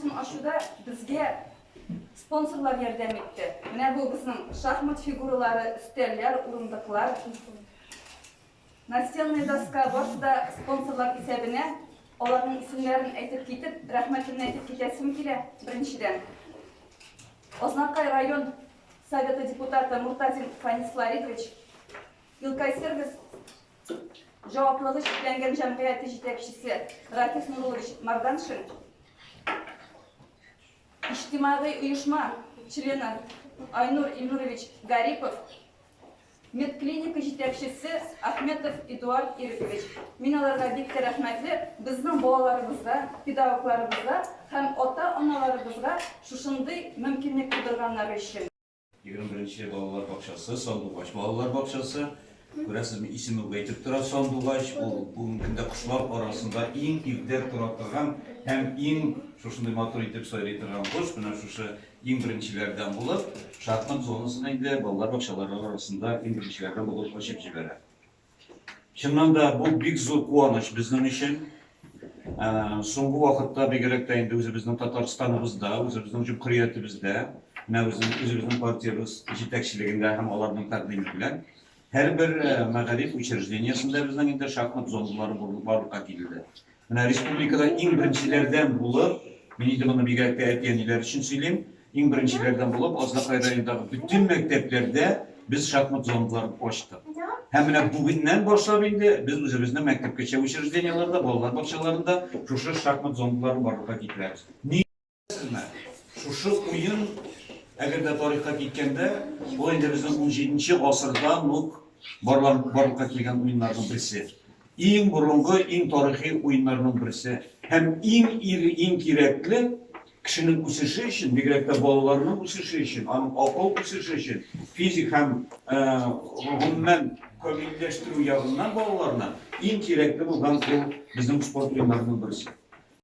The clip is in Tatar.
Сын ачуда безгә спонсорлар ярдәм итте. Менә бу безнең шахмат фигуралары, өстәлләр, урындыклар. Настенная доска барысы да спонсорлар исәбенә. Аларның исемнәрен әйтеп китеп, рәхмәтемне әйтеп китәсем килә. Беренчедән, Ознакай район Советы депутаты Муртазин Фанис Ларитович, Илкай сервис җаваплылыгы чикләнгән җәмгыяте җитәкчесе Рафис Нурулович Марданшин, иҗтимагый оешма члены Айнур Ильнурович Гарипов, медклиника җитәкчесе Ахметов Эдуард Ирекович. Мин аларга бик тә рәхмәтле. Безнең балаларыбызга, педагогларыбызга һәм ата-аналарыбызга шушындый мөмкинлек тудырганнары өчен. Егерме беренче балалар бакчасы, Сандугач балалар бакчасы. Күрәсезме, исеме үк әйтеп тора, Сандугач. Ул бүгенге көндә кошлар арасында иң иртә тора торган һәм иң шушындый матур итеп сайрый торган кош. Менә шушы иң беренчеләрдән булып, шахмат зонасын инде балалар бакчалары арасында иң беренчеләрдән булып ачып җибәрә. Чыннан да бу бик зур куаныч безнең өчен. Соңгы вакытта бигрәк тә инде үзебезнең Татарстаныбызда, үзебезнең җөмһүриятебездә, менә үзебезнең партиябез җитәкчелегендә һәм аларның тәкъдиме белән һәрбер мәгариф учреждениесендә безнең инде шахмат зоналары барлыкка килде. Менә республикада иң беренчеләрдән булып, мин инде моны бигрәк тә әти-әниләр өчен сөйлим, иң беренчеләрдән булып Азнакай районындагы бөтен мәктәпләрдә без шахмат зоналарын ачтык. Һәм менә бүгеннән башлап инде без үзебезнең мәктәпкәчә учреждениеләрдә, балалар бакчаларында шушы шахмат зоналарын барлыкка китерәбез. Шушы уен, әгәр дә тарихка киткәндә, ул инде безнең 17 гасырдан ук барлыкка килгән уеннарның берсе. Иң борынгы, иң тарихи уеннарның берсе. Һәм иң ире, иң кирәкле кешенең үсеше өчен, бигрәк тә балаларның үсеше өчен, аның акыл үсеше өчен, физик һәм гомумән камилләштерү ягыннан балаларны иң кирәкле булган ул безнең спорт уеннарының берсе.